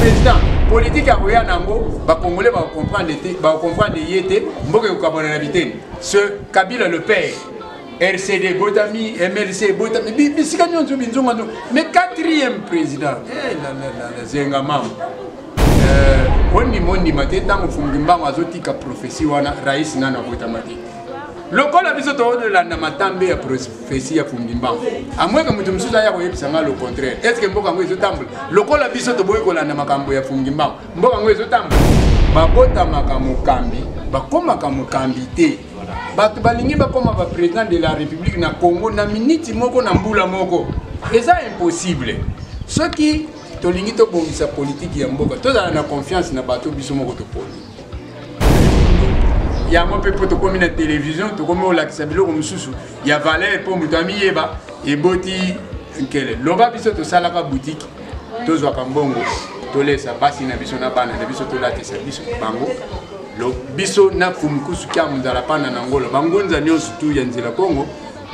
président politike akoya na yango bakongole bakokomprendre te bakokomprendre ye te mboka ekokabwana na biteni ce kabila le père rcd ebotami mlc ebotami bisika nyonso binzonga nzo mais quatrième président eh, zenga mama eh, ondima ondima te ntango mfumuki mbango azotika prophesie wana rais nano abotama te lokola biso toolanda matambe ya fesi ya fumbi mbango amweke moto mosusu aya koyebisa ngai le contraire estce mboka yango ezotambola lokola biso toboyi kolanda makambo ya fumbi mbango mboka yango ezotambola babotamaka mokambi bakomaka mokambi te bato balingi bakoma baprésident de la république na congo na miniti moko na mbula moko eza impossible soki tolingi tobongisa politiki ya mboka tozala na confiance na bato biso moko toponi yango mpe mpo tokomi na televizio tokomi kolakisa biloko mosusu ya valere mpo moto amiyeba eboti nkele loba biso tosalaka butiki tozwaka mbongo tolesa basi na biso na bana na biso tolatisa biso bango biso na kumkusu kya muzala pana na ngolo bangunza nyonso tu ya nzela kongo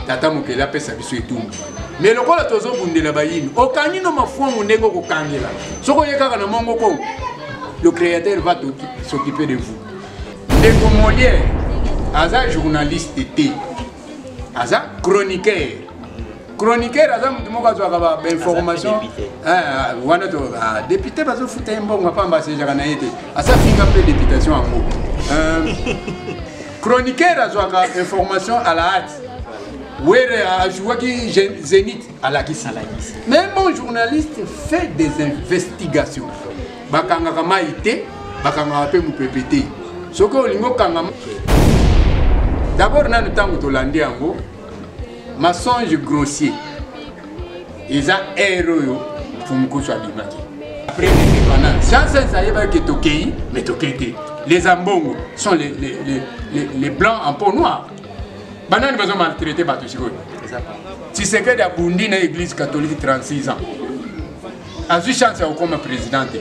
tata mokeli apesa biso etumbu me lokola tozobundela bayini okangi no mafuangu ndenge okokangela soki oye kaka na mongo kongo le créateur va s'occuper de vous ndeko moliere aza journaliste te aza chroniqueur chroniqueur aza motu moko azwaka bainformation ah, wana ah, député bazofuta ye mbongo apamba asejaka na ye te asafinga mpe députation yango euh, Chroniqueur azwaka information à la hâte. Were a joué qui Zénith à la Kissi. Mais un bon journaliste fait des investigations. Bakanga kama ité, bakanga apé moupépété. Soko olingo kanga. D'abord, nanu tango tolandi yango, mensonge grossier. eza ere oyo fumukusu abimaki après indépendance chances ayebaki ke tokei mais tokei te les ambongo sont les, les, les, les, les blancs en peau noir banani bazo maltraite bato sikoyo tshisekedi abundi na église catholique 36 ans azwi chance ya kokoma président te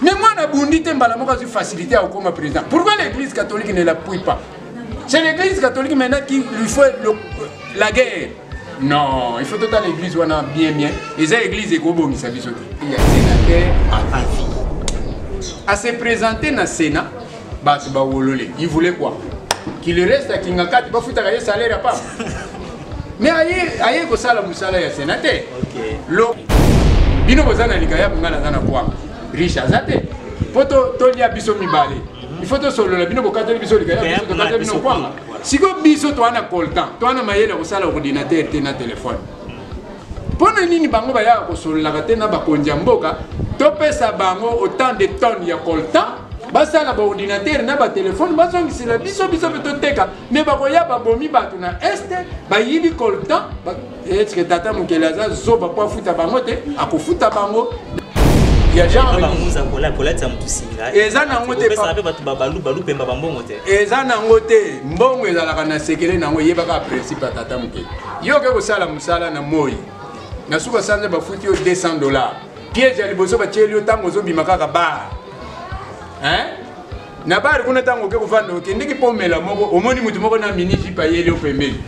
mais mwana abundi te mbala moko azwi facilité ya kokoma président pourquoi l'église catholique ne l'appuie pas c'est l'église catholique maintenant qui lui fait le, la guerre non il faut totala église wana bien bien eza église ekobongisa biso te ya sénateur à avis à se présenter na sénat bato bawolole il voulait quoi qu'il reste à kingakati bafutaka ye salaire ya papa mais aye aye kosala mosala ya sénat te lo bino boza na likayabu ngai naza na kwanga riche aza te mpo tolia biso mibale il faut tosolola bino bokateli biso likayabu biso tokateli bino kwanga sikoyo biso toa na coltan toa na mayele ya kosala ordinatere te na telefone mpo na nini bango bayaka kosololaka te na bakonzi ya mboka topesa bango autant de tonne ya coltan basala baordinatere na batelefone bazongisela biso biso mpe toteka me bakoya babomi bato na este bayibi coltan etike eh, tata mokeli aza zoba mpo afuta bango te akofuta bango ya genrekolata motu singa eza nango tepe bato babalubalu mpemba bambongo te eza nango te mbongo ezalaka na sekele nango eyebaka principe ya tata mokeli yo oke kosala mosala na moi na suka sanza bafuti yo 200 dollar piège ya liboso batieli yo ntango ozobima kaka bar hein na bari kuna ntango oke kofanda okendeki mpo omela moko omoni moto moko na mini jipe ayeli opembeli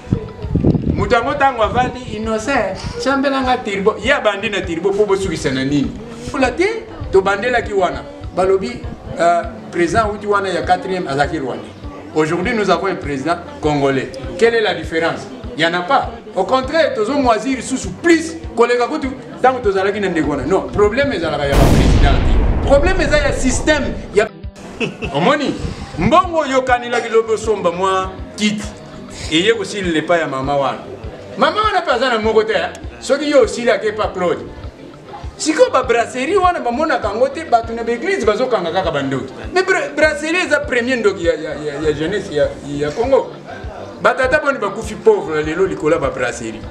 moto yango ntango avandi innocent sambela nga tirbo ye abandi na tirbo mpo bosukisa na nini fula te tobandelaki wana balobi euh, président wuti wana ya 4e azalaki rwandais aujourd'hui nous avons un président congolais quelle est la différence il y en a pas au contraire tozomwazir lisusu plus koleka kutu Tango tozalaki na ndeko wana. Non, problème ezalaka ya président te. Problème eza ya système ya Omoni? Mbongo yokanelaki lobi osomba mwa kiti. Eye kosilila epai ya mama wana. Mama wana mpe aza na moko te. Soki yo osili ake epa Claude. sikoyo babrasserie wana bamonaka yango te bato na baeglise bazokanga kaka bandoki me brasserie eza premier ndoki ya, ya, ya, ya jeunesse ya, ya congo batata boni bakufi pauvre lelo likolo ya babrasserie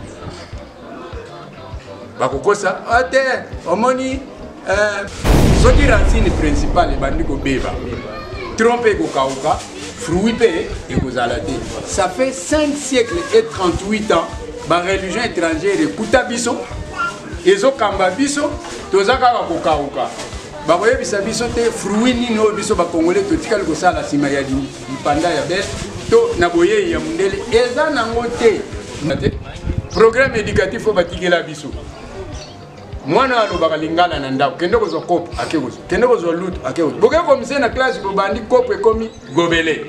bakokosa ah, te omoni eh, soki racine principale ebandi kobeba tronc mpe ekokauka fruit mpe ekozala te ça fait 5 siècle et 38 ans bareligion étrangère ekuta biso ezokamba biso toza kaka kokauka bakoyebisa biso te fruit nini oyo biso bakongole totikali kosala nsima ya lipanda ya bel to na boyei ya mondele eza nango te programme éducatif oyo batikela biso mwana oyo alobaka lingala na ndako kende kozwa kopo ake kozwa kende kozwa lutu ake kozwa boke komise na classe bobandi kopo ekomi gobele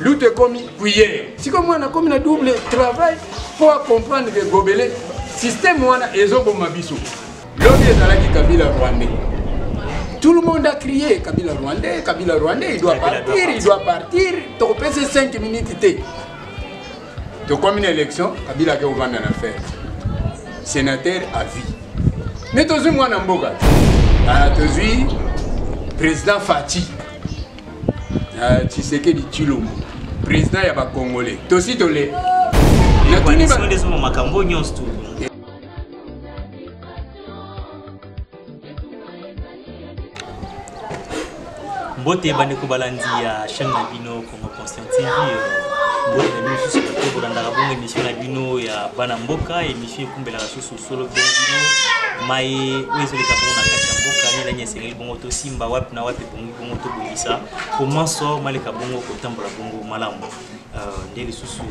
lutu ekomi cuillere siko mwana akomi na double travail mpo acomprendre ke gobele systeme wana ezoboma biso Lobi ezalaki Kabila Rwandais. Tout le monde a crié Kabila Rwandais, Kabila Rwandais, il doit partir, il doit partir. Tokopesa 5 minutes te. Tokomi na élection, Kabila ake ovanda na faire. Sénateur à vie. Mais tozui mwana mboka. Ah, tozui président Fatih. Ah, Tshisekedi Tshilombo. Président ya ba Congolais. Tosi tole. Na tuni ba makambo nyonso mbote bandeko balandi ya chaîne na bino congo conscient tv mbote na bino susu bato bolandaka bongo émission na bino ya bana mboka émission ekumbelaka susu solo bino bino mai oyo ezoleka bongo na kati ya mboka nilani esengeli bongo tosimba wapi na wapi ebongi bongo tobongisa po manso maleka bongo kotambola bongo malamu nde lisusu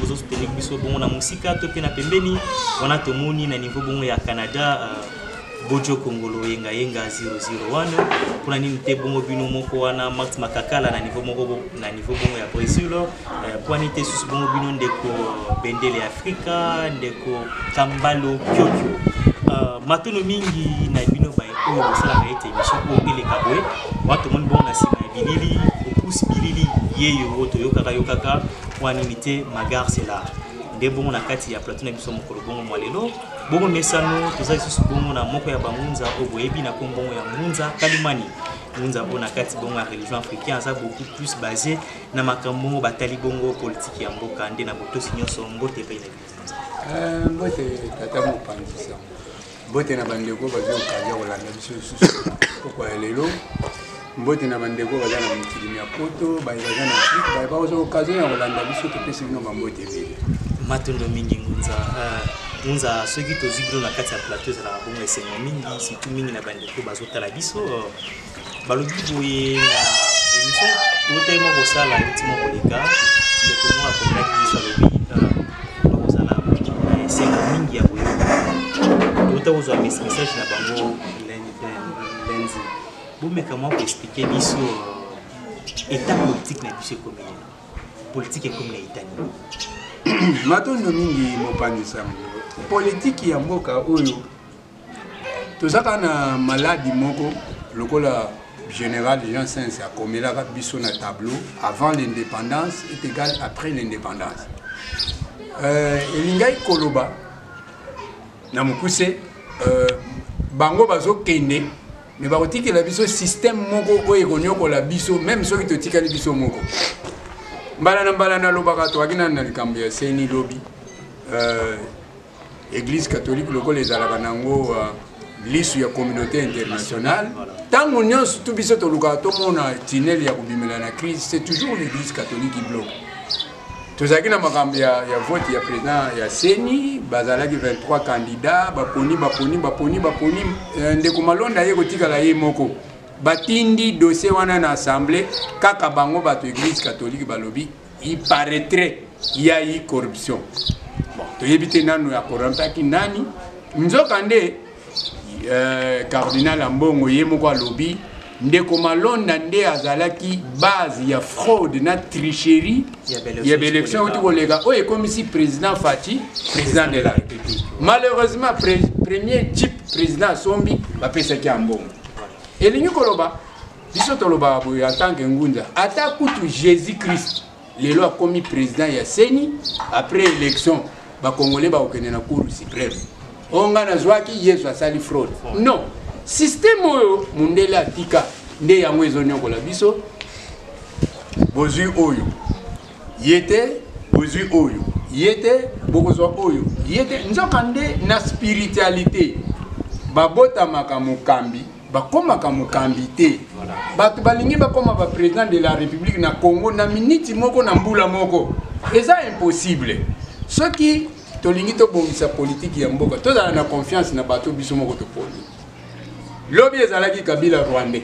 bozo soutenir biso bongo na mosika to mpe na pembeni wana tomoni na niveau bongo ya canada euh, bojo kongolo yenga yenga 00 wana mpona nini te bongo bino moko wana max makakala na niveau moko na niveau bongo ya brésil euh, mpona nini te susu bongo bino ndeko bendele ya Afrika ndeko Kambalo Kyokyo. Uh, matono mingi na bino baye oyo bosalaka ete emission oyo eleka boye wana tomoni bongo na nsima ya bilili opusi bilili yeyo oyo toyokaka yokaka wana nini te magar sela nde bongo na kati ya plateau na biso mokolo bongo mwa lelo bongo mesano toza lisusu bongo na moko ya bangunza oyo boyebi na kombongo ya ngunza kalimani ngunza oyo na kati bongo ya religion africain aza beaucoup plus base Na makambo batali bongo politiki ya mboka nde na botosi nyonso mbote epai na bino. Eh, mbote tata mopanzi sango mbote na bandeko bazwi okazi ya kolanda biso lisusu pokwa ya lelo mbote na bandeko baza na mokili mya poto baye baza na afrike baye bakozwa okazion ya kolanda biso topesi bino bambote ebele matondo mingi ngunza eh, ngunza soki tozwi bino na kati ya plateau ezalaka bongo esengo mingi surtout mingi na bandeko bazotala biso balobi boye na emission totali mwa kosala euti mwa koleka ndeko moko akotaki biso alobi bakozala esengo mingi ya koyoka touta kozwa message na bango lenzi bomeka mwa koexplike biso eta politike na biso ekomi lelo politike ekomi na etani matondo mingi mopanzi sango politiki ya mboka oyo toza kaka na maladi moko lokola général jean sens akomelaka biso na tableau avant l'indépendance est égal après l'indépendance euh, elingaki koloba na mokuse euh, bango bazokende me bakotikela biso système moko oyo ekonyokola biso meme soki totikali biso moko mbala na mbala nalobaka toyaki nani na likambo ya seni lobi euh, Eglise catholique lokola ezalaka nango uh, lisu ya communauté internationale ntango nyonso tu biso tolukaka tomona tinele ya kobimela na crise c'est toujours l'église catholique qui bloque tozalaki na makambo ya, ya vote ya président ya seni bazalaki 23 candidat baponi baponi baponi baponi euh, ndeko malonda ye kotikala ye moko batindi dossier wana na assemblée kaka bango bato église catholique balobi il paraîtrait il y a eu corruption bon toyebi te nano ya corrompaki nani nzoka nde euh, cardinal ambongo ye moko alobi ndeko malonda nde azalaki base ya fraude na tricherie ya baélection euti koleka oyo ekomisi président fati président de la république malheureusement pre, premier jeep président asombi bapesaki ya mbongo elingi koloba biso tolobaka boye en tant que ngunda ata kutu jésus christ lelo akomi président ya seni après élection bakongole bakokende na cour suprême oyo ngai nazwaki yesu asali fraude non systeme oyo mondele atika nde yango ezoniokola biso bozwi oyo ye te bozwi oyo ye te bokozwa oyo ye te nzokande na spiritualité babotamaka mokambi bakomaka mokambi te bato balingi bakoma ba président de la république na congo na miniti moko na mbula moko eza impossible soki tolingi tobongisa politiki ya mboka tozala na confiance na bato biso moko toponi lobi ezalaki kabila rwandais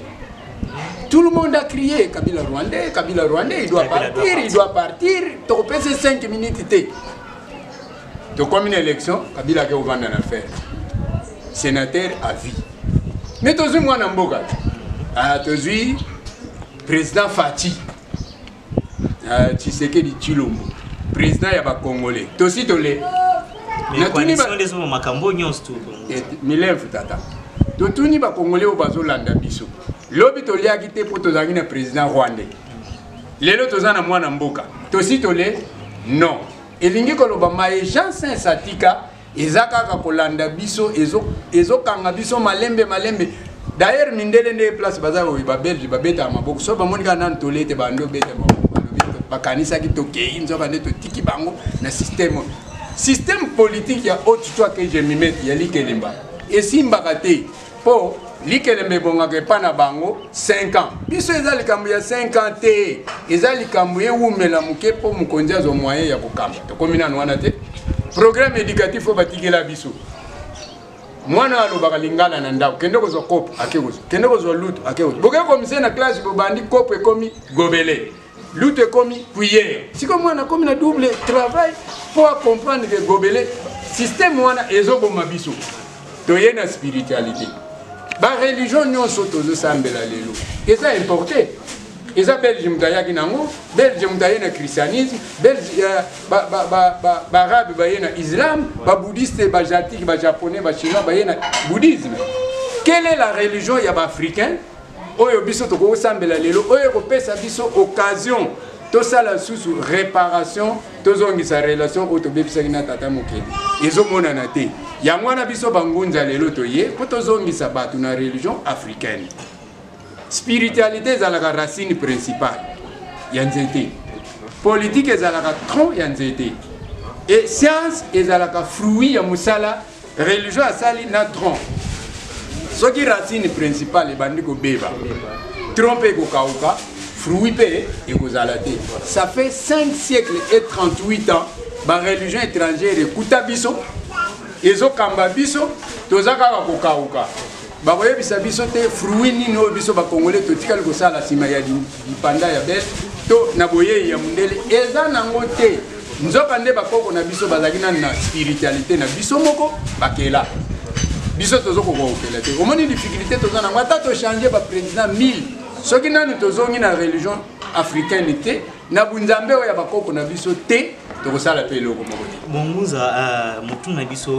tout le monde a crié kabila rwandais kabila rwandais il doit partir il doit partir tokopesa 5 minutes te tokomi na élection kabila ake kovanda na fer sénateur à vie mais tozwi mwana mboka ah, tozwi président fati ah, tshisekedi tshilombo président ya bacongolais tosi tole makambo nyonso eh, milevu tata totuni bacongolais oyo bazolanda biso lobi toliaki te mpo tozalaki na président rwandais lelo toza na mwana mboka tosi tole non elingi koloba maye jean sens atika eza kaka kolanda biso ezokanga ezo biso malembe malembe d'ailleurs mindele nde place baza oyo babelge babetaka maboko so bamoni kaka nanu tole ete bando obeta maboko balobi bakanisaki tokei nzoka nde totiki bango na systeme oyo systeme politique ya haute toi que je mimete ya likelemba esimbaka te mpo likelemba ebongaka epai na bango 5 ans biso eza likambo ya 5 ans te eza likambo ewumela moke mpo mokonzi azwa moyen ya kokamba tokomi nano wana te programme éducatif oyo batikela biso mwana alobaka lingala na ndako kende kozwa kopo ake kozwa kende kozwa lutu ake kozwa boke komise na classe bobandi kopo ekomi gobele lutu ekomi cuillère sikoyo mwana akomi na double travail mpo acomprendre ke gobele systeme wana ezoboma biso toye na spiritualité bareligion nyonso tozosambela lelo eza importe eza belge moto ayaki nango belge moto aye na christianisme belge euh, baarabe baye na islam babouddhiste bajatike bajaponnais bachinois baye na bouddhisme quelle est la religion ya baafricain oyo biso tokoki kosambela lelo oyo ekopesa biso occasion tosala lisusu réparation tozongisa relation oyo tobebisaki na tata mokeli ezomonana te yango wana biso bangunza lelo toye mpo tozongisa bato na religion africaine spiritualité ezalaka racine principale ya nzete politike ezalaka tronc ya nzete e science ezalaka fruit ya mosala religion asali na tronc soki racine principale ebandi kobeba tronc mpe ekokauka fruit mpe ekozala te ça fait 5 siècles et 38 ans bareligion étrangère ekuta biso ezokamba biso toza kaka kokauka bakoyebisa biso te fruit nini oyo biso bakongole totikali kosala nsima ya lipanda ya bele to na boyei ya mondele eza nango te nzoka nde bakoko na biso bazalaki nani na spiritualité na biso moko bakela biso tozo kokokela te omoni difficulté toza nango ata tochange baprésident 1000 soki nanu tozongi na religion africaine te na bunzambe oyo ya bakoko na biso te tokosala mpe eloko moko te bongunza uh, eh, motuna biso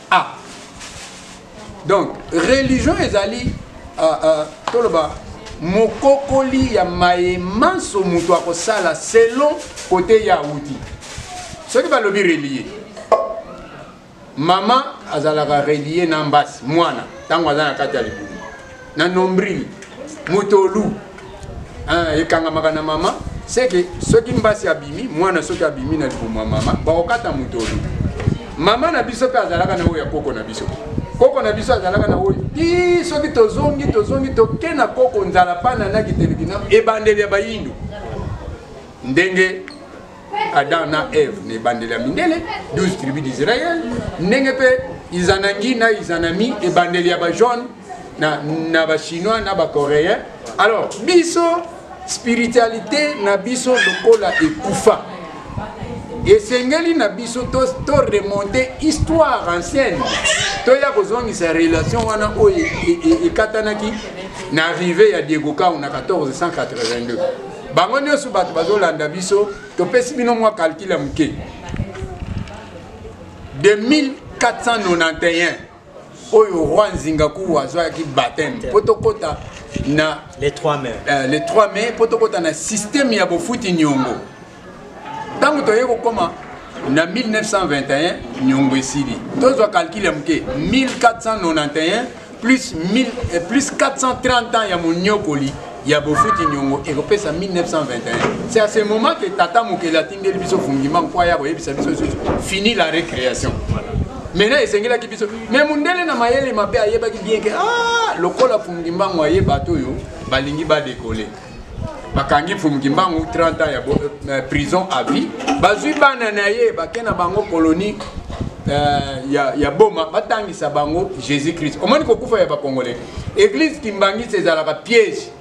ah donc religion ezali uh, uh, toloba mokokoli ya maye manso moto akosala selon kote ya awuti soki balobi relie mama azalaka relie na mbasi mwana ntango aza na kati ya libumu na nombril motolu eh, ekangamaka na mama seke soki mbasi abimi mwana soki abimi na libumu ya mama bakokata motolu mama na biso mpe azalaka na oyo ya koko na biso koko na biso azalaka na oyo ti soki tozongi tozongi toke na koko nzala pana na kitelekina ebandeli ya bayindo ndenge Adam na Eve na ebandeli ya mindele 12 tribu d'Israël ndenge mpe Izanangi na Izanami ebandeli ya ba jaune na, na ba chinois na ba coréen alors biso spiritualité na biso lokola ekufa esengeli na biso to, to remonte histoire ancienne toya kozongisa relation wana oyo e, e, e, ekatanaki na arrive ya diego kau na 1482 bango nyonso bato bazolanda biso topesi bino mwa kalkile ya moke de 1491 oyo roi nzingaku azwaki bateme mpo tokɔta na le 3 mai euh, le 3 mai mpo tokɔta na systeme ya bofuti nyongo ntango toyei kokoma na 1921 nyongo esili tozwa kalkile ya moke 1491 plus, 1000, eh, plus 430 ans ya monyokoli ya bofuti nyongo ekopesa 1921 c'est à ce moment que tata mokeli atindeli biso fungima nkwa ya koyebisa biso lisusu fini la récréation maintenant esengelaki biso mais mondele na mayele mabe ayebaki bien ke ah, lokola fungimbango aye bato oyo balingi badekole bakangi mfumu kimbangu 30 ans ya euh, prison à vie bazwi bana na ye bake na bango colonie euh, ya, ya boma batangisa bango jésus christ omoni kokufa ya bacongolais église kimbangisi ezalaka piège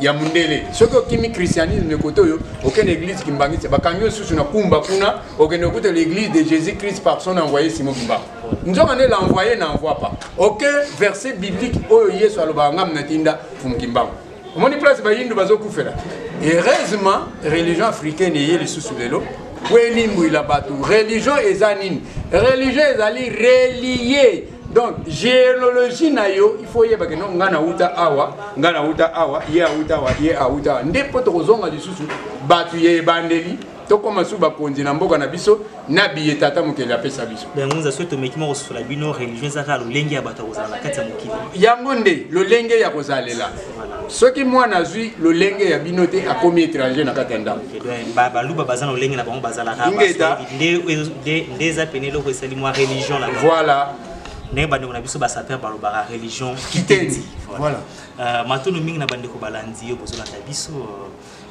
ya mundele soki okimi christianisme kote oyo okende église kimbangisi bakangi yo susu na kumba kuna okende okuta l'église de jésus christ par son envoyé simo kimbangu nzoka nde l'envoyé na envoie pas oke verset biblique oyo yesu alobaka ngamna tinda mfumu kimbangu omoni place bayindu bazokufela heureusement religion africaine eye lisusu lelo po elimbwila bato religion eza nini religion ezali relie donc géologie na yo il faut oyeba keno ngai nauta awa ngai nauta awa ye auta awa ye auta awa nde mpo tokozonga lisusu bato ya ebandeli tokoma su bakonzi na mboka na biso na biye tata mokeli apesa biso yangonza soki tomeki mwa kososola bino religion eza kaka lolenge ya bato ya kozala na kati ya mokili yango nde lolenge ya kozalela soki mwana azwi lolenge ya bino te akomi étranger na kati ya ndako baluba baza na lolenge na bango bazalaka nde eza pene eloko esali mwa religion na voilà ndenge bandeko na biso basaper balobaka religion kitendi voilà. voilà. Euh, matono mingi na bandeko balandi yo bozolanda biso euh,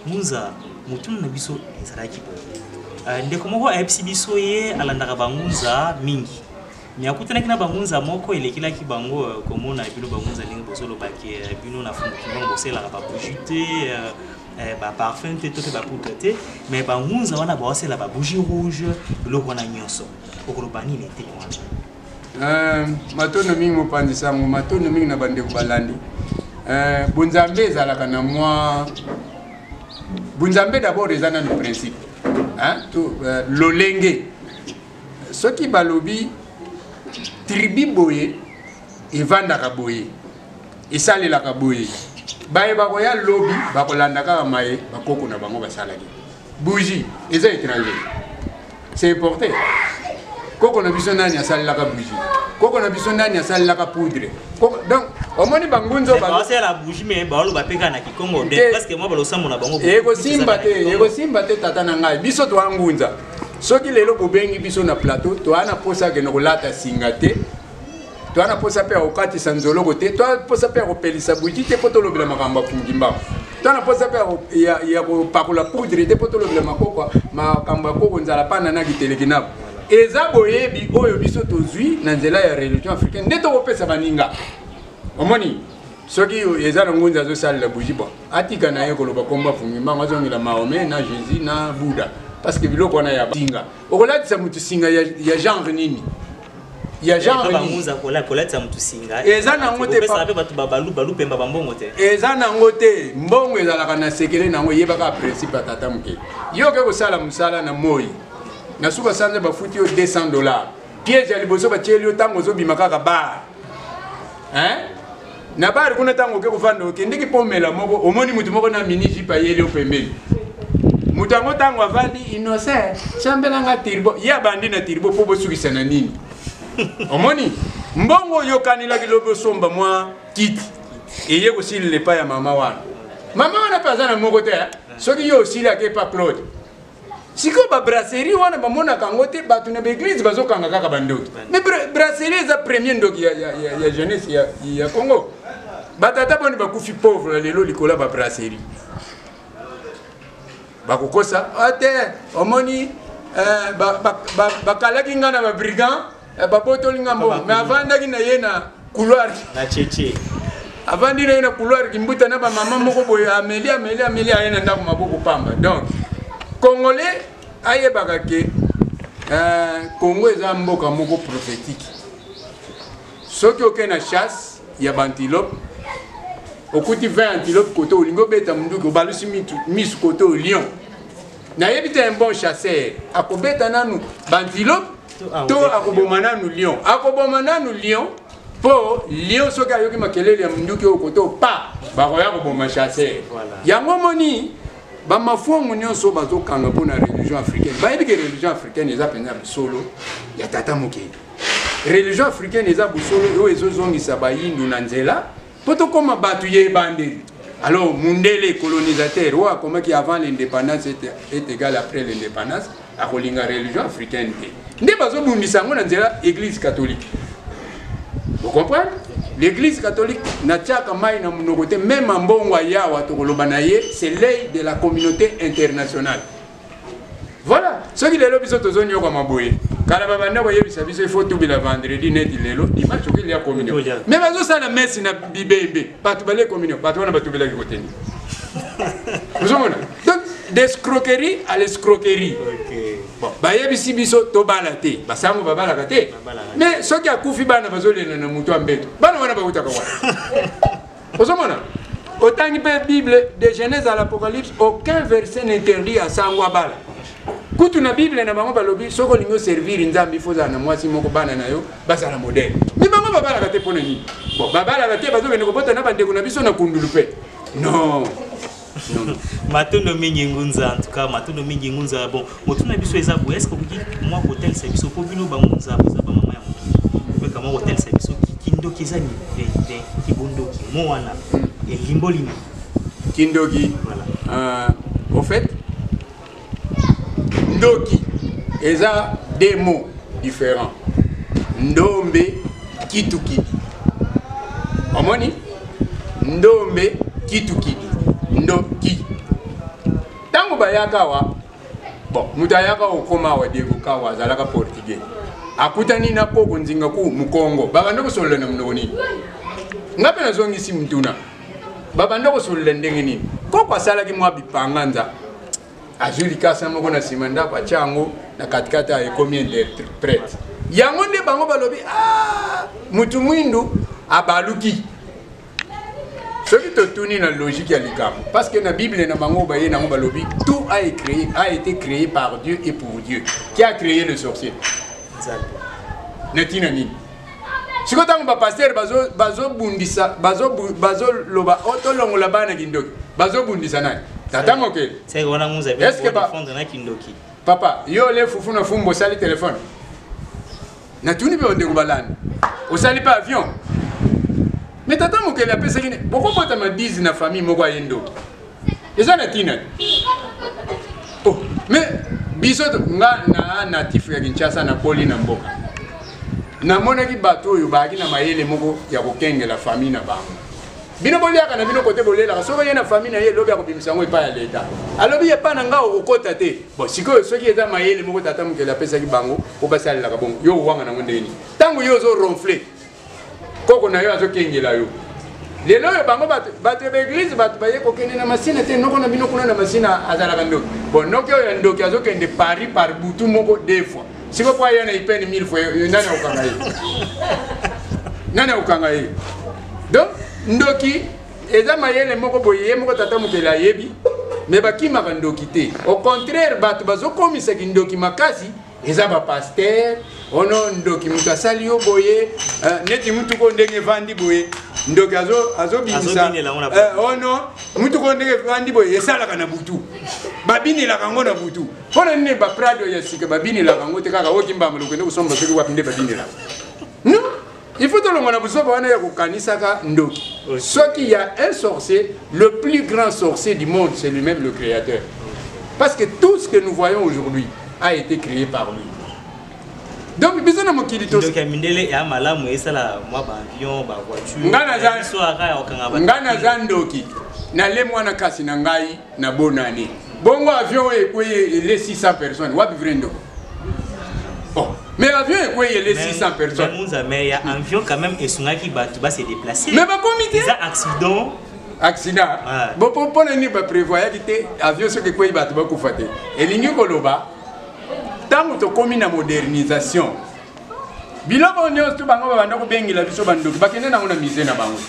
Ngunza, motuna na biso ezalaki boye. Euh, ndeko moko ayebisi biso ye alandaka bangunza mingi me akutanaki na bangunza moko elekelaki bango euh, komona bino bangunza ndenge bozoloba ke euh, bino na fumukimbango bosalelaka babougi te baparfum te to mpe bapoudre te me bangunza wana baosala babougi rouge biloko wana nyonso okoloba nini eteni wana Eh, matondo mingi mopanzi sango matondo mingi na bandeko balandi eh, bonzambe ezalaka na mwa bonzambe d'abord eza nano principe eh, lolenge soki balobi tribi boye evandaka boye esalelaka boye baye bakoya lobi bakolanda kaka maye bakoko na bango basalaki bougie eza étranger c'est importé koko na biso nani asalelaka bougie koko na biso nani asalelaka poudre donc omoni bangunzo basala bougie mais baoloba mpe kaka na kikongo presque mwa balosambo na bango ekosimba te ekosimba te tata na ngai biso toa ngunza soki lelo bobengi biso na plateau toa na mposa akende kolata singa te toa na mposa mpe ya kokatisa nzoloko te toa mposa mpe ya kopelisa buji te mpo tolobela makambo ya fungimbangu toa na mposa mpe ya kopakola poudre te mpo tolobela makoko makambo ya koko nzala pana na kiteleki nabo eza boyebi oyo biso tozwi na nzela ya religion africaine nde tokopesa baninga omoni soki eza na ngunza azosalela buji bo atika na ye koloba kombo afungi mbango azongela mahome na jésus na bouddha parce que biloko wana ya singa okolatisa moto singa ya genre nini ya genre bangunza kola kolatisa motu singa eza nango te kopesa mpe bato babalu balu pemba bambongo te eza nango te mbongo ezalaka na sekele nango eyebaka principe ya tata moke yo oke kosala mosala na moi na suka sanza bafuti yo 200 dollar piège ya liboso batieli yo ntango ozobima kaka bar hein na bari kuna ntango oke kofanda okendeki mpo omela moko omoni moto moko na mini jipe ayeli opembeni moto yango ntango avandi innocent sambelanga tirbo ye abandi na tirbo mpo bosukisa na nini omoni mbongo oyokanelaki lobi osomba mwa kiti eye kosilela epai ya mama wana mama wana mpe aza na moko te soki yo osilaki epa claude sikoyo babrasserie wana bamonaka yango te bato na baeglise bazokanga kaka bandoki me brasserie eza premier ndoki ya, ya, ya, ya jeunesse ya, ya congo batata boni bakufi pauvre lelo likolo ya babrasserie bakokosa ah, te omoni eh, bakalaki ba, ba, ba ngai na babrigand eh, babotoli nga mbongo mais avandaki na ye na couloir na cheche avandi na ye na couloir kimbuta na bamama moko boye ameli ameli ameli aye na ndako maboko pamba donc congolais ayebaka ke euh, congo eza mboka moko prophétique soki okei na chasse ya bantilope okuti 20 antilope kote olingi obeta monduki obalusi misu kote o lion nayebi te un bon chasseur akobeta nanu bantilope to akoboma nanu lion akoboma nanu lion mpo lion soki ayoki makelele ya monduki oyo koto pa bakoya koboma chasseur yango moni bamafongo nyonso bazokanga mpo na religion africaine bayebi ke religion africaine eza mpenza bosolo ya tata mokeli religion africaine eza bosolo oyo ezozongisa bayindu na nzela Mpo tokoma bato ya ebandeli. Alors, Mundele, colonisateur, oyo akomaki avant l'indépendance est égal après l'indépendance, akolinga religion africaine te. Nde bazobundisa yango na nzela église catholique. Vous comprenez L'église catholique n'a pas mai na monoko te, même en bongo ayawa tokoloba na ye, c'est l'œil de la communauté internationale. voilà soki lelo biso tozonyokwama boye kala babanda koyebisa biso ifo tubela vendredi neti lelo dimanche oki lia communion me bazosala mesi na bibembe bato balie communion bato wana batubelaki koteni ozomona donc descroquerie à l'escroquerie bon bayebisi biso tobala te basango babalaka te mais soki akufi bana bazolela na moto ya mbeto bana wana bautaka wana ozomona otangi mpe bible de genèse à l'apocalypse aucun verset n'interdit ya sango abala kutu na bible na bango balobi soki olingi oservire nzambe ifo ozala na mwasi moko bana na yo bazala modele mi bango babalaka te mpo na nini babalaka te bazokende kobota na bandeko na biso na kundulu mpe non matondo mingi ngunza en tout cas matondo mingi ngunza bon motuna na biso eza boye eske okoki mwa kotalisa biso mpo bino bangunza boza bamama ya moki opeka mwa kotalisa biso kindoki eza nini kibondoki mo wana elimboli nini kindoki voilà. uh, au fait ndoki eza deux mots différents ndombe kitukidi omoni ndombe kitukidi ndoki ntango bayaka awa bon moto ayaka okoma awa devoka awa azalaka portugais akutani na koko nzinga ku mokongo babanda kosolola na monoko nini ngai mpe nazongisi motuna babanda kosolola ndenge nini koko asalaki mwa bipanganza azwi likasa moko na nsima ndako atya yango na katikati ya ekomi interprète yango nde bango balobi ah, mutu mwindu abaluki soki totuni na logique ya likambo parce que na bible na bango baye nango balobi tout a, créé, a été créé par dieu et pour dieu qui a créé le sorcier na ntina nini siko ntango bapastere bazobundisa bazoloba oh, tolongola bana kindoki bazobundisa nani tata mokeli papa yo ole fufu na fumbu osali telefone natuni mpe bandeko balandi osali mpe avion me tata mokeli apesaki ne bokobotama 10 na famille moko aye ndoki eza na ntina te oh, me biso nga na natif ya kinshasa nakoli na mboka namonaki bato oyo bayaki na mayele moko ya kokengela famille na bango bino boliaka na bino kote bolelaka soki oye na famille na ye lobi akobimisa yango epai ya leta alobi epai na ngai okokota te bon sikoyo soki eza mayele moko tata mokeli apesaki bango obasalelaka bongo yo owanga nango ndenge nini ntango yo ozo ronfle koko na yo azokengela yo lelo oyo bango bato ya baeglize bato baye kokende na masina te noko na bino kuna na masina azalaka ndoki bo noki oyo ya ndoki azokende paris par butu moko de fois siko po aya na ipene mille fois nani akokanga ye nani akokanga ye donc ndoki eza mayele moko boye ye moko tata mokeli ayebi me bakimaka ndoki te au contraire bato bazokomisa kindoki makasi eza ba pasteur ono ndoki moto asali yo boye eh, neti motuko ndenge evandi boye ndoki azobimisa eh, ono motuko ndenge evandi boye esalaka na butu babinelaka yango na butu mpo na nini baprado ya sika babinelaka yango te kaka okimbamboloko nde kosomba soki wapi nde babinelaka Il faut tolonga na buzoba wana ya kokanisaka ndoki. Soki ya un sorcier, le plus grand sorcier du monde, c'est lui-même le créateur. Parce que tout ce que nous voyons aujourd'hui a été créé par lui. donc biso na mokili tosoki ya mindele ya malamu esala mwa baavion bavoiture ngai naza ndoki nalemwa na kasi na ngai na bonne année bongo avion oyo ekweye ele 600 personnes wapi vrai ndoko oh. mais avion ekweye ele 600 personnes munza mais ya avion quand même esungaki bato ba se déplacer mais bakomi te eza accident accident ah. bo mpo na nini baprévoyaki te avion soki ekwei bato bakufa te elingi koloba ntango tokómi na modernisation biloko oyo nyonso to bango babanda kobengela biso bandoki bakende nango na musée na bango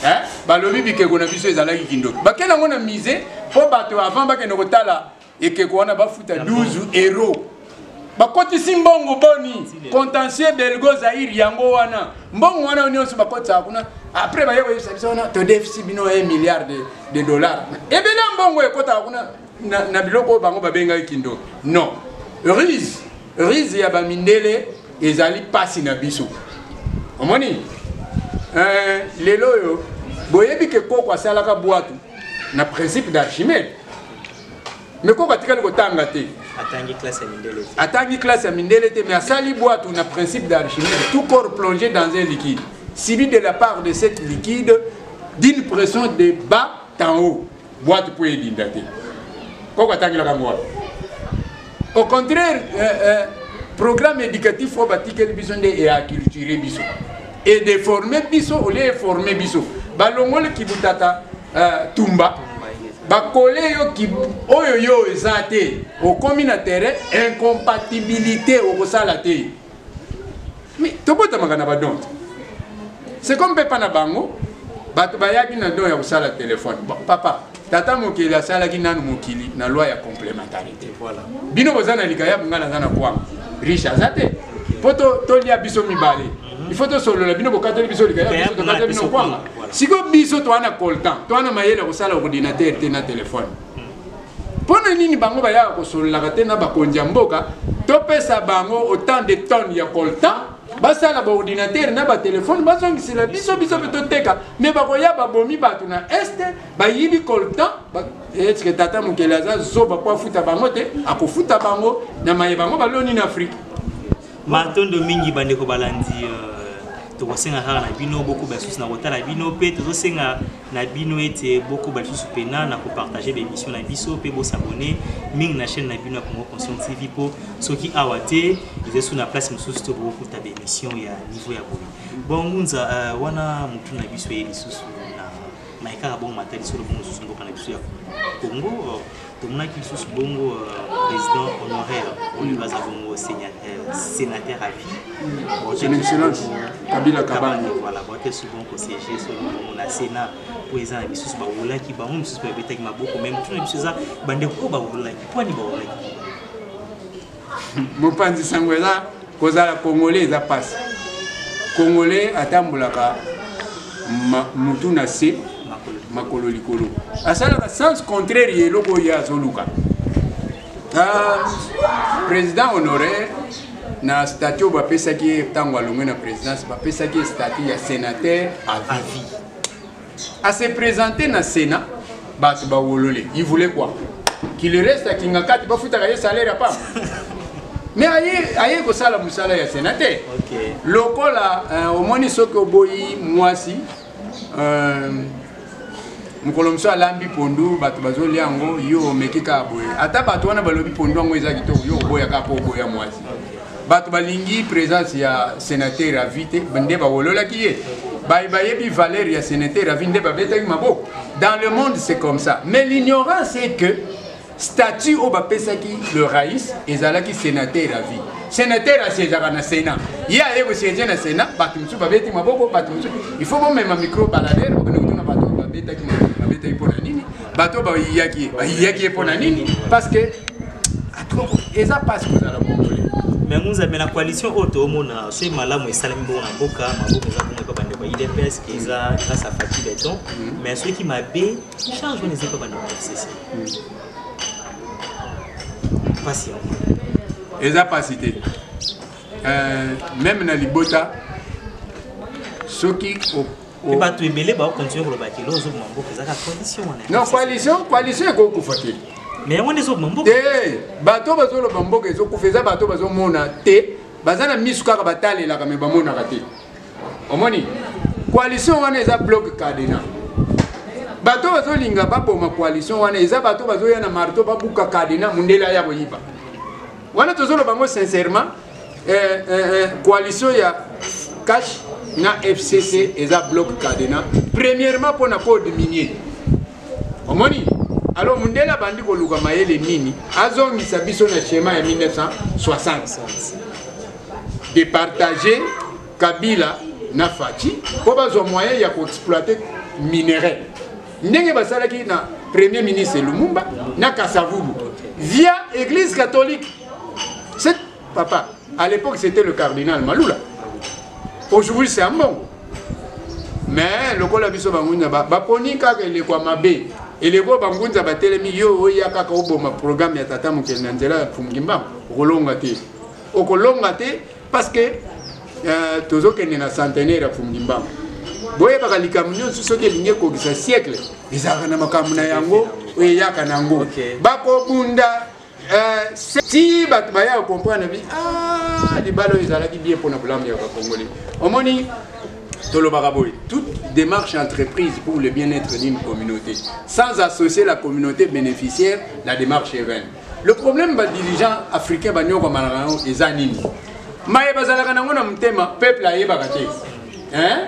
eh? balobi bikeko na biso ezalaki kindoki bakende nango na musée mpo bato avant bakende kotala ekeko wana bafuta 12 euro bakotisi mbongo boni contentieux belgo zaire yango wana mbongo wana nyonso bakotisaka kuna après baye koyebisa biso wana todefisi bino 1 milliard de, de dollars ebele ya mbongo ekotaka kuna na, na biloko oyo bango babengaki kindoki non rise Riz ya ba mindele ezali pasi na biso. Omoni? Euh, lelo oyo boyebi ke koko asalaka bwatu na principe d'Archimède. Mais koko atikali kotanga te. atangi classe ya mindele te atangi classe ya mindele te mais asali bwatu na principe d'archimède tout corps plongé dans un liquide subi de la part de cette liquide d'une pression de bas en haut boite mpo edinda te koko atangelaka yango wapi au contraire euh, euh, programme éducatif oyo batikeli biso nde eaculture biso edeforme biso olie eforme biso balongoli kibutata euh, tumba bakole yo ki, oyo yo eza te okomi na terrain incompatibilité okosala te mais tobotamaka na badon te c'est comme pepa na bango bato bayaki na don ya kosala telefone bon, papa tata mokili asalaki nanu mokili na loi ya complémentarité voilà. bino boza na likayabu ngai naza na kwanga riche aza te mpo tolia biso mibale mhm. il faut tosolola bino bokateli biso likayabu biso tokateli bino kwanga sikoyo biso toa na coltan toa na mayele ya kosala ordinateur te na telefone Mpo na nini bango bayaka kosololaka te na bakonzi ya mboka? Topesa bango autant de tonnes ya coltan basala baordinatere na batelefone bazongisela biso biso mpe toteka me bakoya babomi bato na este bayibi coltan etike tata mokeli aza zoba mpo afuta bango te akofuta bango na maye bango baloni na afrike matondo mingi bandeko balandi euh, tokosenga kaka na bino bokoba susu na kotala bino mpe tozosenga na bino ete bokoba lisusu pena na kopartage baemission na biso mpe bosabone mingi na chaîne na bino ya congo conscient tv mpo soki awa te ezesu na place mosusu to bokokuta baemission ya niveau ya boye bon ngunza uh, wana motu na biso ye lisusu na maye kaka bongo matali solo bongo mosusu mboka na biso ya congo tomonaki lisusu bongo euh, président honoraire oyo baza bongo sénateur à vie son excellence kabila kabanga voilà bote souvent kosege solo bongo na sénat mpo eza na bisusu bawolaki bango mosusu babetaki maboko meme tuna biso eza bandeko oyo bawolaki mpo ani bawolaki mopanzi sango eza kozala congolais eza pasi congolais atambolaka mutu na se makolo likolo asalaka sens contraire ya eloko oyo azoluka ah, président honoraire na statut oyo bapesaki ye ntango alongwe na présidence bapesaki ye statut ya sénateur à vie A se presenter na Sénat, bato ba wolole. Il voulait quoi? Qu'il reste à Kingakati, ba futaka ye salaire apa. Mais aye aye ko sala musala ya Sénat te. Okay. Lokola euh, omoni soki oboyi mwasi euh, mokolo mosusu alambi pondu bato bazolia yango yo omeki kaka boye ata bato wana balobi pondu yango eza kitoko yo oboya kaka mpo oboya mwasi bato balingi présence ya senateur avi te nde bawololaki ye baye bayebi valeur ya senateur avi nde babetaki maboko dans le monde c'est comme ça mais l'ignorance c'est que statut oyo bapesaki le rais ezalaki senateur ya vie senateur asiezaka na sénat ye aye kosiege na sénat bato mosusu babeti maboko bato mosusu il faut bomema micro balader okende kotuna bato babetaki maboko babetaki mpo na nini bato bayiyaki ye bayiyaki ye mpo na nini parce que eza mpasi kozala mongole mais ngunzambe na coalition oyo toomona soki malamu esalami bongo na mboka maboko eza bongo epa bandeko ya idps ke eza grâce a fati beton mm. mais soki mabe change wana eza epa bandeko ya fcc mpasi yango eza mpasi te euh, meme na libota soki mpe bato ebele baokontinue koloba ke loo ozoboma mboka ezaka coalition wana non coalition coalition ekokufa te mais yango nde ezoboma mboka te eh, bato bazoloba mboka ezokufa eza bato bazomona te baza na misu kaka batalelaka me bamonaka te omoni coalition wana eza bloc cadena bato bazolinga baboma coalition wana eza bato bazoya na marto babuka cadena mondele aya koyiba wana tozoloba yango sincèrement eh, eh, eh, coalition ya cash na fcc eza bloc cadena premièrement mpo na code minier omoni alors mundele abandi koluka mayele nini azongisa biso na schéma ya 1960 de partager kabila na faci mpo bazwa moyen ya koexploite minerai ndenge basalaki na premier ministre lumumba na kasavubu via église catholique Papa, à l'époque c'était le cardinal Malula. Aujourd'hui c'est Ambongo. Mais le kola biso bangunza ba baponi kaka eleko mabe. Eleko bangunza batelemi yo oya kaka oboma programme ya tata mokeli na nzela ya Fumgimba okolonga te. Okolonga te parce que euh, tozokende na centenaire ya Fumgimba. boyebaka likambo nyonso soki elingi ekokisa siècle ezalaka na makambo na yango oyo eyaka na yango bakobunda ti bato baya ya comprendre bi ah, libala oyo ezalaki bien mpona bolamu ya bakongoli omoni tolobaka boye toute démarche entreprise pour le bien-être d'une communauté sans associer la communauté bénéficiaire la démarche est vaine le problème badirigeant africain banyokomanaka yango eza nini maye bazalaka nango na motema peuple ayebaka te hein?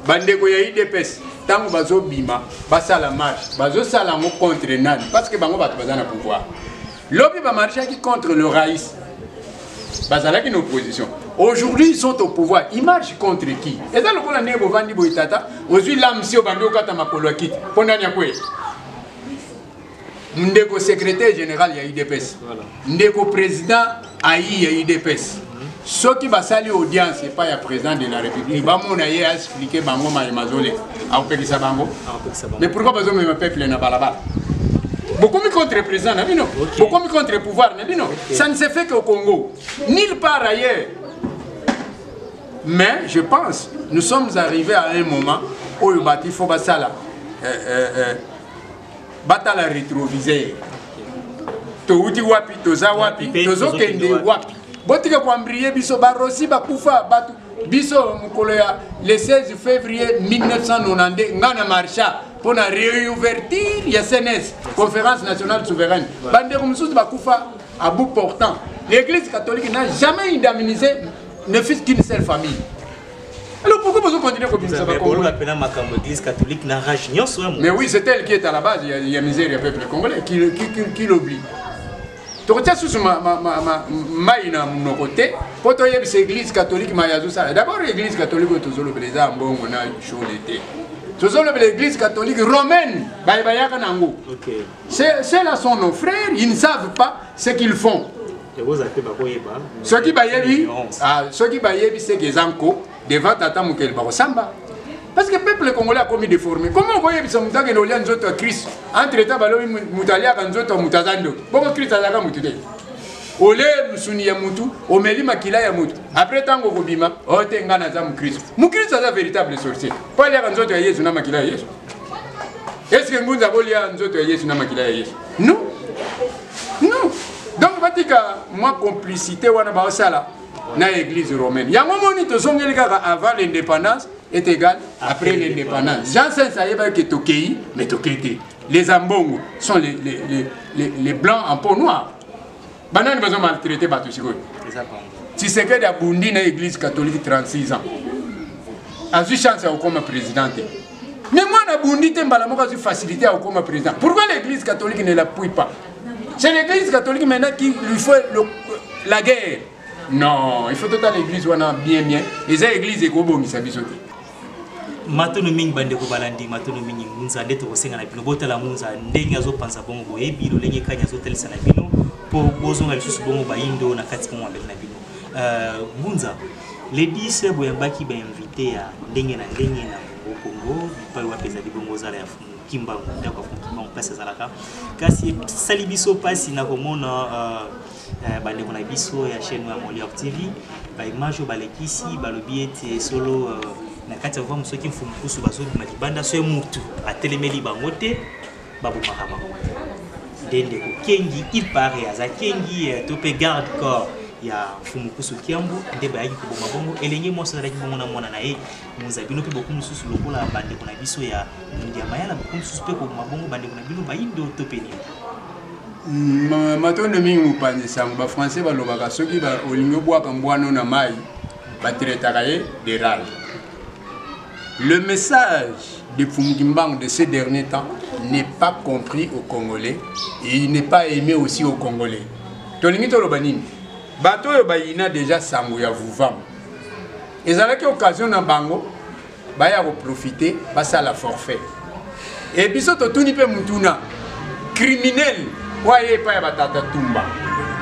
bandeko ya idps ntango bazobima basala marche bazosala yango contre nani parce que bango bato baza na pouvoir lobi bamarchaki contre le rais bazalaki na opposition aujourd'hui ils sont au pouvoir ils marchent contre qui eza lokola ndenge bovandi boye tata ozwi lamsi obandi okata makolo ya kiti mpo nani akwei ndeko secrétaire général ya udps ndeko président ayi ya udps soki basali audience epai ya président de la république bamona ye aexplike bango maye mazole akopekisa bango mais pourquoi bazomema peuple na balabala bokomi contre président na bino bokomi contre pouvoir na bino ça ne se fait qu'au congo nulle part ailleurs mais je pense nous sommes arrivés à un moment oyo bato il faut basala euh, euh, euh, batala retroviseur towuti wapi toza wapi tozokende wapi botika koambrie biso barosi bakufa bato biso mokolo ya le 16 février 1992 ngai na marcha mpo na réouverture ya cns conférence nationale souveraine bandeko mosusu bakufa à bout portant l'église catholique n'a jamais indemnisé ne fût qu'une seule famille Alors pourquoi vous continuez à continuer à Vous avez la makambo église catholique na rage nyonso hein, Mais oui, c'est elle qui est à la base il y a misère il y a peuple congolais qui qui qui, qui l'oublie. tokotia susu mai na monoko te mpo toyebisa église catholique mai azosala d'abord église catholique oyo tozolobela eza ya mbongo na shole te tozolobela église catholique romaine baye bayaka na yango cela sont nos frères ils ne savent pas ce qu'ils font soki bayebi ah, soki bayebi seke eza nko devant tata mokeli bakosamba parce que peuple congolais akomi déformé comment okoyebisa moto akende olia nzoto ya kristo entre temps balobi moto aliaka nzoto ya moto aza ndoki bongo kristo azalaka moto te olie mosuni ya motu omeli makila ya motu apres ntango okobima ote oh, ngai naza mokristo mokristo aza véritable sorcier mpo aliaka nzoto ya yesu na makila ya yesu eske ngunza akolia nzoto ya yesu na makila ya yesu non non donc batika mwa complicité wana baosala na église romaine yango moni tozongeli kaka avant l'indépendance est égal après l'indépendance jean sens ayebaki ke tokei mais tokei te les ambongo sont les, les, les, les, les blancs en peau noire banani bazo maltraite bato sikoyo tshisekedi abundi na église catholique 36 ans azwi chance ya kokoma président te mais mwana abundi te mbala moko azwi facilité ya kokoma président pourquoi l'église catholique ne l'appuie pas c'est l'église catholique maintenant qui lui fait le, la guerre non il faut totala église wana bien bien eza église ekobongisa biso te matono mingi bandeko balandi matono mingi ngunza nde tokosenga na bino botala ngunza ndenge azopanza bongo boyebi lolenge kani azotalisa na bino mpo bozonga lisusu bongo bayindo na kati bongo mabele na bino euh, ngunza ledise boyambaki bainvite ya ndenge na ndenge na bongo kongo bipai wapi ezali bongo ozala ya fumu kimbangu ndako ya fumu kimbangu mpasi ezalaka kasi esali biso mpasi na komona euh, Eh, bandeko na biso ya chaîne ya Molière TV baimage oyo balekisi balobi ete solo euh, na kati ya vamu soki mfumu kusu bazobima libanda soki mutu atelemeli bango te babomaka bango nde ndeko kengi il paraît aza kengi euh, to mpe garde corps ya mfumu kusu kiambo nde bayaki koboma bongo elenge mwasi azalaki bongo na mwana na ye Moza bino mpe bokomi lisusu lokola bandeko na biso ya Ngiama yana bokomi lisusu mpe koboma bongo bandeko na bino bayindo to mpe nini? Mm, matondo mingi mopanzi sango bafrançais balobaka soki olingi obwaka mbwano na mai batretaka ye de rage le message de fumukimbango de ce dernier temps n'est pas compris au congolais et il n'est pas aimé aussi au congolais tolingi toloba nini bato oyo bayina deja sango ya vuvam ezalaki occasion na bango baya koprofite basala forfait e biso totuni mpe motuna criminel oyo aye epai ya batata tumba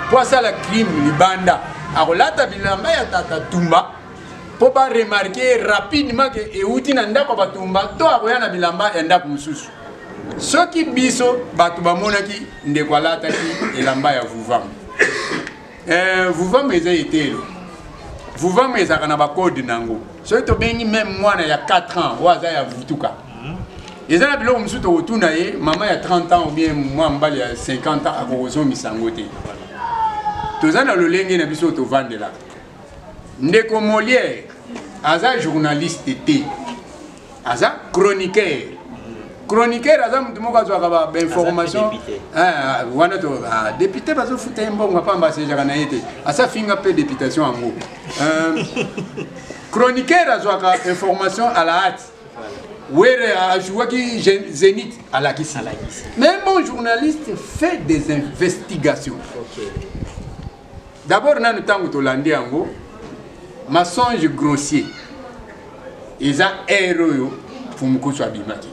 mpo asala crime libanda akolata bilamba ya tata tumba mpo baremarke rapidement ke euti na ndako ya batumba to akoya na bilamba ya ndako mosusu soki biso bato bamonaki ndeko alataki elamba ya vuvangu eh, vuvama eza etelo vuvama ezalaka na bakode na yango soki tobengi meme mwana ya 4 ans oyo aza ya vutuka mhm. eza na biloko mosusu tokotuna ye mama ya 30 ans obien mwa mobali ya 50 ans akokozongisa yango te toza na lolenge na biso tovandelaka ndeko moliere aza journaliste te aza chroniqueur chroniqueur aza motu moko azwaka bainformation ah, wana to ah, depute bazofuta ye mbongo apamba asejaka na ye te asafinga mpe deputation yango euh, chroniqueur azwaka information à la hâte were ajouaki zenith alakisi mais bon journaliste fait des investigations okay. D'abord nanu ntango tolandi yango mensonge grossier eza heure oyo fumukusu abimaki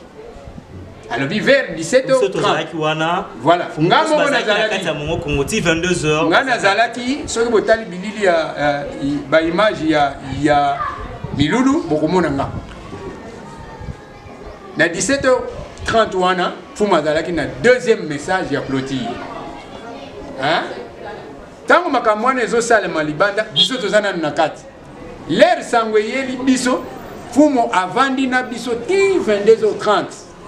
alobi vers 17h30 wana voilà nga moko nazalaki ya mongo kongo ti 22h nga nazalaki soki botali bilili ya uh, ba image ya ya milulu bokomona nga na 17h30 wana fuma azalaki na deuxième message ya clotire ntango makambo wana ezosalema libanda biso toza nanu na kati lere sango eyeli biso fumo avandi na biso ti 22h30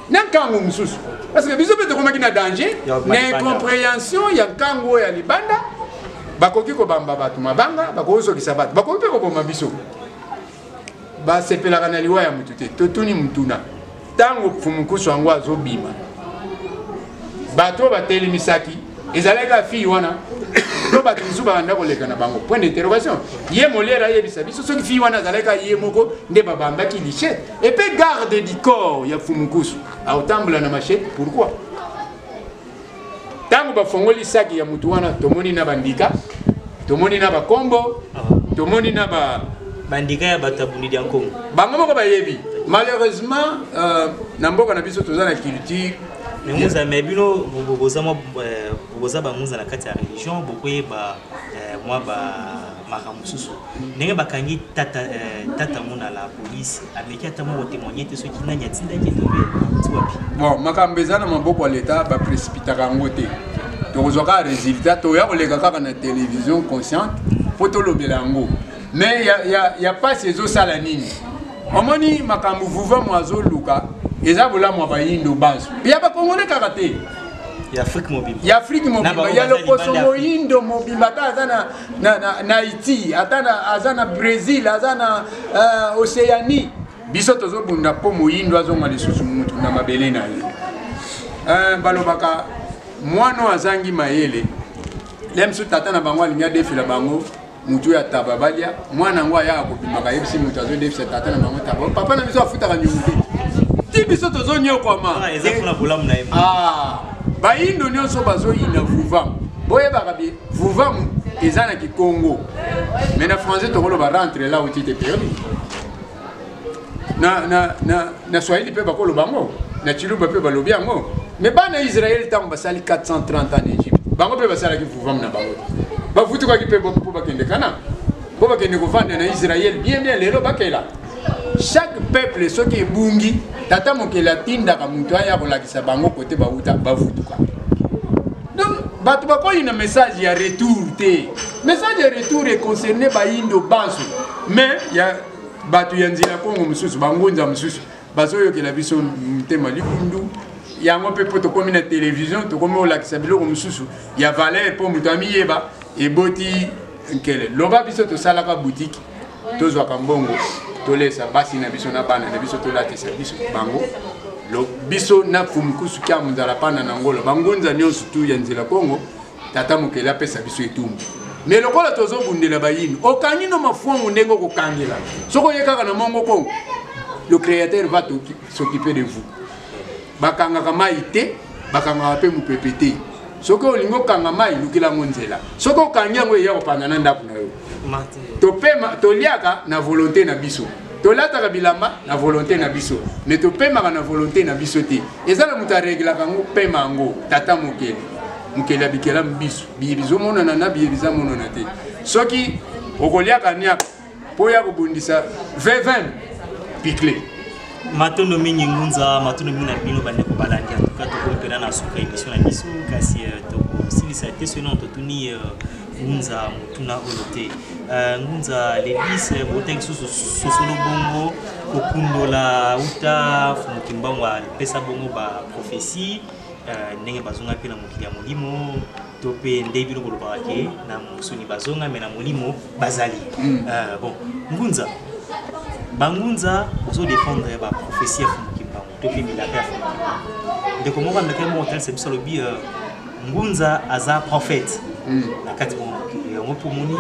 na ntango mosusu parce que biso mpe tokomaki na danger na incomprehension ya ntango oyo ya libanda bakoki kobamba bato mabanga bakoki kozokisa bato bakoki mpe koboma biso basepelaka na liwa ya motu te totuni motuna ntango mfumukusu yango azobima bato oyo batelemisaki ezalaki kaka fille wana to bato mosusu babanda koleka na bango point d'interrogation ye moliere ayebisa biso soki fille wana azalaki kaka ye moko nde babambaki lichete epe garde du corps ya fumukusu aotambula na machete pourquoi ntango bafongoli saki ya motu wana tomoni na bandika tomoni na bakombo tomoni na ba bandika ya bato ya bulidi ya nkongo bango moko bayebi malheureusement euh, na mboka na biso toza na culture menguza me bino boza euh, banguza na kati ya religion bokoyeba euh, mwa ba makambo mosusu ndenge bakangi tata eh, tata mona la police ameki ata moko témoigne te soki nani atindaki tobe tiwapi bon makambo eza na maboko ya leta baprécipitaka yango te tokozwa kaka résultat toya koleka kaka na télévision consciente mpo tolobela yango mais ya, ya, ya pasi ezosala nini omoni makambo vuvamu azoluka eza bolamu ya bayindo banso ya bakongole kaka te ya afrike mobimba ya afrike mobimba ya lokoso moyindo mobimba ata aza na, na, na, na haiti ata na, aza na brésil aza na uh, océanie biso tozobunda mpo moyindo azonga lisusu mutu na mabele na ye uh, balobaka mwana oyo azangi mayele lem so tata na bango alingi adefela bango motu oyo ataba balia mwana yango ayaka kobimaka ayebisi motu azodefisa tata na bango taba papa na biso afutaka nyongo te ti biso tozonyokwama ah, ah, bayindo nyonso bazoyina vuvam boyebaka bi vuvam eza na kikongo mai na français tokoloba rentre la otite perdu na, na, na, na swahili mpe bakoloba yango na chiluba mpe balobi yango me bana israele ntango basali 430 ans na egypte bango mpe basalaki vuvamu na bango bafutukaki mpe mpo bakende kana mpo bakende kovanda na israele bien bien lelo bakela chaque peuple soki ebungi tata mokeli atindaka moto aya kolakisa bango kote bauta bafutuka donc bato bakoyina message ya retour te message ya retour econcerne baindo banso mais ya bato ya nzela kongo mosusu bangunza mosusu bazoyokela biso motema likundu yango mpe mpo tokómi na televizio tokómi kolakisa biloko mosusu ya valeur mpo moto amiyeba eboti nkele loba biso tosalaka butiki tozwaka mbongo tolesa basi na biso na bana na biso tolatisa biso bango biso na fumukusu kya mundala pana na ngolo bangunza nyonso tu ya nzela kongo tata mokeli apesa biso etumbu me lokola tozobundela bayini okangi no mafuangu ndenge okokangela soki oye kaka na mongo kongo le créateur va s'occuper de vous bakangaka mai te bakangaka mpe mopepe te soki olingi okanga mai lukela yango nzela soki okangi yango eya kopanda na ndako na yo topema toliaka na volonté na biso tolataka bilamba na volonté na biso me topemaka na volonté na biso te eza na moto areglaka yango pema yango tata mokeli mokeli abikela biso biye bizomonana na biye bizamonana te soki okoliaka niaka mpo ya kobundisa vevin pikle matondo mingi ngunza matondo mingi na bino bandeko balandi antuka tokomi mpena na suka emission na biso kasi euh, tokosilisa te soki nano totuni euh, ngunza motuna oyo te euh, ngunza lelise boteki susu sosolo bongo kokundola uta mokimbango apesa bongo baprofesie euh, ndenge bazonga mpe na mokili ya molimo to mpe nde bino kolobaka ke na mosuni bazonga me na molimo bazali hmm. euh, bon ngunza bangunza ozodefendre baprofesie ya topimela pe ndeko moko andakaki moko tanisa biso alobi euh, ngunza aza prophète hmm. na kati mwa mokili yango mpo omoni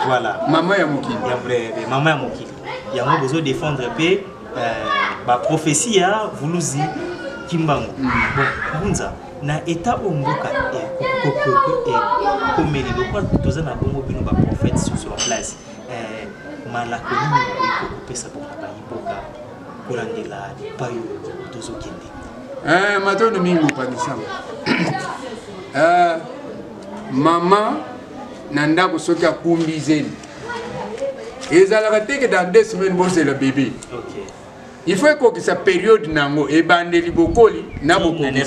voilà mama ya mokili mama ya mokili yango bozo défendre mpe euh, baprophétie ya vuluzi kimbangu hmm. bon ngunza na état oyo mboka ekomeli eh, lokola toza na bongo bino baprophète sur place eh, malako nini bokoki kopesa mpona bayiboka kolandela epai oyo tozokende eh, matondo mingi mopanisama eh, mama na ndako soki akumbi zemi ezalaka teke dans deux semaines bozela bebe okay. il faut ekokisa periode na yango ebandeli bokoli na bokoki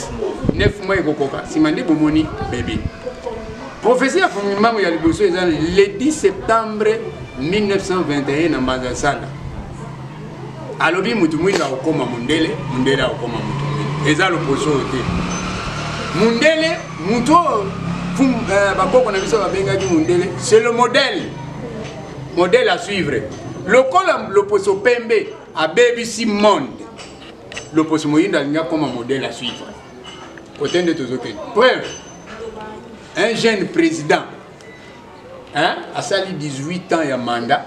9 mois ekokoka nsima nde bomoni bebe profesi ya fumimbango ya liboso eza le 10 septembre 1921 na mbanza sala alobi mutu mwindu akokoma mundele mundele akokoma mutu mwindu eza loposo oyo te mundele mutu oyo euh, bakoko na biso babengaki mundele c'est le modèle modèle à suivre lokola loposo pembe abebisi monde loposo moyindo alingi akoma modèle à suivre kote nde tozokende preuve un jeune président hein, asali 18 ans ya mandat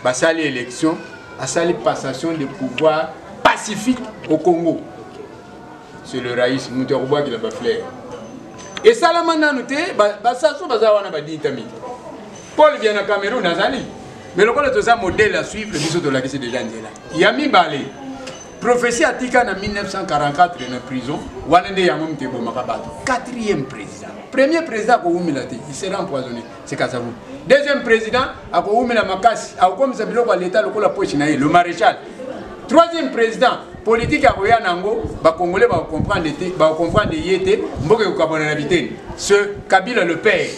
basali election asali passation de pouvoir pacifique au congo c'est le rais moto ya kobwakela bafleur esalama nanu te basaso baza wana badita mingi paul bia na cameroun azali me lokola toza modele ya suivre biso tolakisi deja nzela ya mibale prophétie atika na 1944 na prison wana nde yango moto ebomaka bato quatrième président premier président akowumela te il sera empoisonné sikasavu deuxième président akowumela makasi akokomisa biloko ya leta lokola poche na ye le maréchal troisième président politike akoya na yango bacongolais bakokomprendre te bakokomprendre ye te mboka ekokabwana na biteni ce kabila le père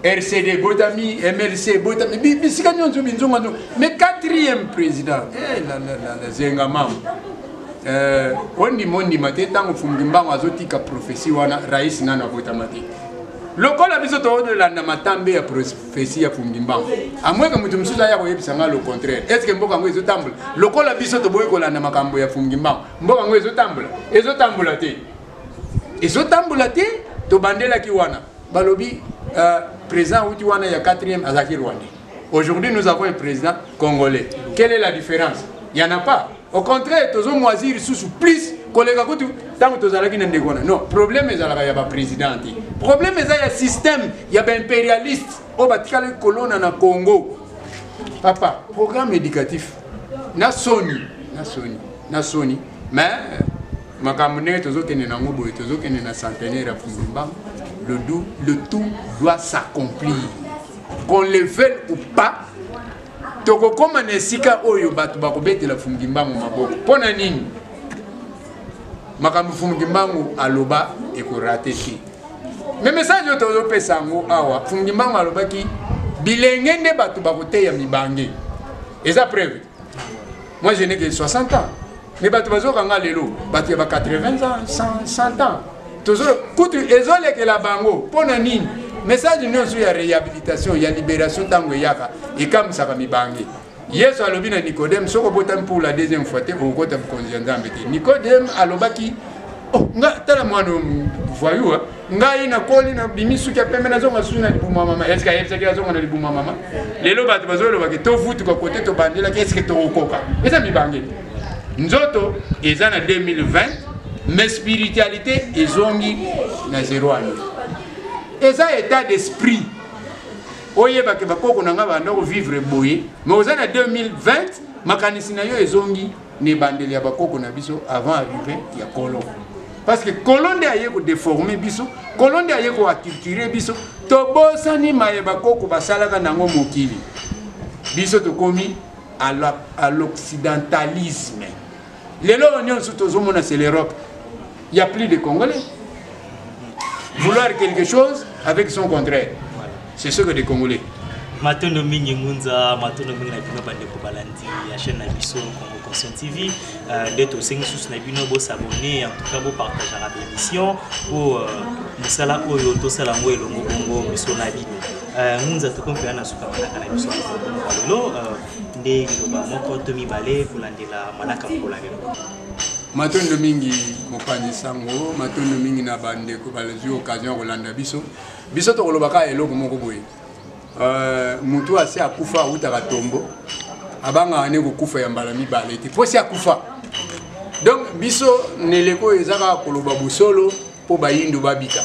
rcd botami mlc botami bisika nyonso binzonga nzonga mais quatrième président eh, zenga mama eh, ondima ondima te ntango fumbi mbango azotika prophesie wana rais nano abotama te lokola biso toolanda matambe ya profesi ya fumbi mbango amweke moto mosusu aya koyebisa ngai le contraire estce mboka yango ezotambola lokola biso toboyi kolanda makambo ya fumbi mbango mboka yango ezotambola ezotambola te ezotambola te tobandelaki wana balobi euh, président auti wana ya 4e azalaki rwandais aujourd'hui nous avons un président congolais quelle est la différence il y en a pas au contraire tozo moisir lisusu plus koleka kutu ntango tozalaki na ndeko wana non problème ezalaka ya baprésident te problème eza ya système ya baimpérialiste oyo batikali kolona na congo papa programme éducatif na soni na soni na soni mais euh, makambo ndenge tozokende nango boye tozokende na centenaire ya fuzimba le, le tout doit s'accomplir qu'on le veuille ou pas tokokoma na esika oyo bato bakobetela fumukimbangu maboko mpo na nini makambo fumukimbangu aloba ekorate te me message oyo tozopesa yango awa fumukimbangu alobaki bilenge nde bato bakoteya mibange eza preuve Moi je n'ai que 60 ans. Mais bato bazoka nga lelo, bato ya ba 80 ans, 100, 100 ans. Tozo kutu ezolekela bango mpo na nini? Message nyonso ya réhabilitation, ya libération ntango eyaka ekamwisaka mibange. Yesu alobi na Nicodème soki obotami pour la deuxième fois te okokota bokonzi ya Nzambe te. Nicodème alobaki oh, nga tala mwana voyou ngai nakoli nabimi suki ya pembe nazonga suki na libuma mama eske ayebisaki azonga na libuma mama lelo bato bazolobaki tovutuka kote tobandelaki eske tokokoka eza mibange nzoto eza na 2020 mais spiritualité ezongi na zero wana eza état d'esprit oyebake bakoko na ngai banda kovivre boye mais oza na 2020 makanisi na yo ezongi na ebandeli ya bakoko na biso avant arrive ya kolo parce que kolo nde aye kodeforme biso kolo nde aye koaculture biso tobosani maye bakoko basalaka nango mokili biso tokomi à l'occidentalisme lelo oyo nyonso tozomona c'est l'europe Il n'y a plus de Congolais. Vouloir quelque chose avec son contraire. C'est ce que les Congolais. matondo mingi ngunza matondo mingi na bino bandeko balandi ya chaîne na biso congo conscient tv euh, nde tosengi susu na bino bosabone en tout cas bopartageaka bémission mpo euh, mosala oyo tosala yango elongo bongo biso na bino euh, ngunza tokomi mpenza na suka manaka na biso lelo nde liloba moko to mibale kolandela manaka mokolo ya lelo Matondo mingi mopanzi sango, matondo mingi na bandeko balezwi occasion ya kolanda biso. Biso tokoloba kaka eloko moko boye, euh, motu asi akufa awutaka tombo, abangaka nde kokufa ya mbala mibale te, mpo si akufa. Donc biso na eleko oyo eza kaka koloba bosolo, mpo bayindo babika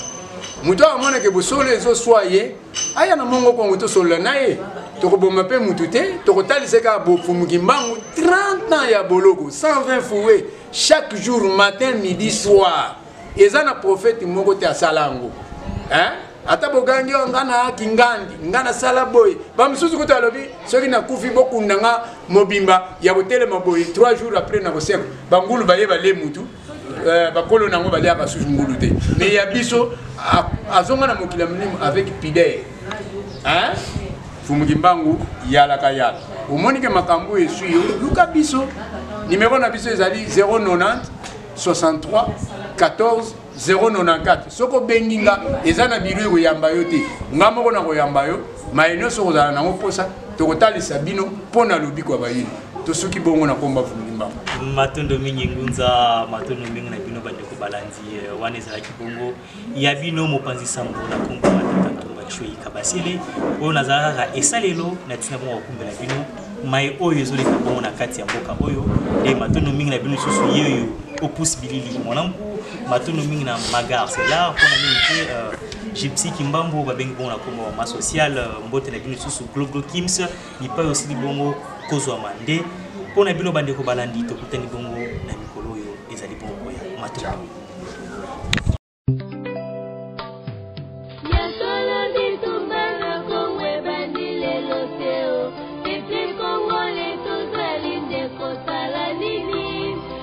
moto awa amonake bosolo ezoswa ye aya na mongo kongo tosolola na ye tokoboma mpe motu te tokotalisa kaka bofumuki mbangu 30 ans ya boloko 120 foue chaque jour matin midi soir eza na profete moko te asala yango ata bogangi oyo nga na kingandi nga nasala boye bamosusu kutu alobi soki nakufi bokunda nga mobimba ya kotelema boye 3 jours après nakosekwa bangulu baye bale mutu Euh, bakolo na yango baliaka susu ngulu te mais ya biso azonga na mokili ya molimo avec pidere fumuki mbangu yalaka yala omoni ke makambo oyo eswi yo luka biso nimero na biso ezali 090 63 14 094 soki obengi nga eza na biro ekoyamba yo te nga moko na koyamba yo maye nyonso okozala nango mposa tokotalisa bino mpo na lobiko ya bayini tosuki bongo na komba vundimba matondo mingi ngunza matondo mingi na bino bandeko balandi eh, wana ezalaki bongo ya bino mopanzi sango na kombo matata ntumba chui kabasele oyo nazalaka kaka esalelo na ntina bongo kokumbela bino mai oyo ezoleka bongo na kati ya mboka oyo nde matondo mingi na bino lisusu ye oyo opus bilili mwanangu matondo mingi na magar selar mpona mingi te euh, gypsy kimbambo babengi bongo na kombo ma sociale euh, mbote na bino lisusu gloglo kims Bipai osili bongo kozwama nde mpo na bino bandeko balandi tokutani bongo na mikolo oyo ezali bongo koya matondo